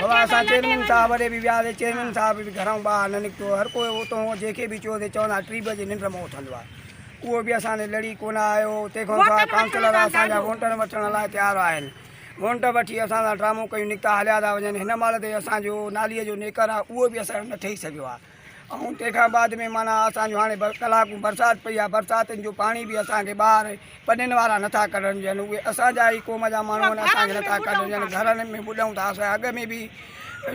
بابا اسان چيئرمين صاحب وٽ به وياسي چيئرمين صاحب به گهران ٻاهر نه نڪتو هر ڪو اتو جنهن کي به چيو سي چون ٿا ٽي بجي ننڊ مان اٿندو آهي اهو به اسان تي لڙي ڪونه آيو تنهن کان سواء ڪائونسلر اسان جا وونٽن وٺڻ لاء تيار آهن وونٽ وٺي اسان سان ڊرامو ڪيون نڪتا هليا ٿا وڃن هن مهل تائين اسان جو نالي جو نيڪر آهي اهو به اثر نه ٺهي سگهيو آهي ۽ تنهن کان بعد ۾ معنيٰ اسان جو هاڻي ڪلاڪون برسات پئي آهي برساتن جو پاڻي به اسان کي ٻاهر پنين وارا نٿا ڪڍڻ ڏين اهي اسان جا ئي قوم جا ماڻهو آهن اسان کي نٿا ڪڍڻ ڏين گهرن ۾ ٻڏئون ٿا اسان اڳ ۾ به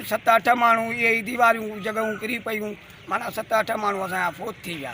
ست اٺ ماڻهو اهي ئي ديواريون جڳهون ڪري پيون معنيٰ ست اٺ ماڻهو اسان جا فوت ٿي ويا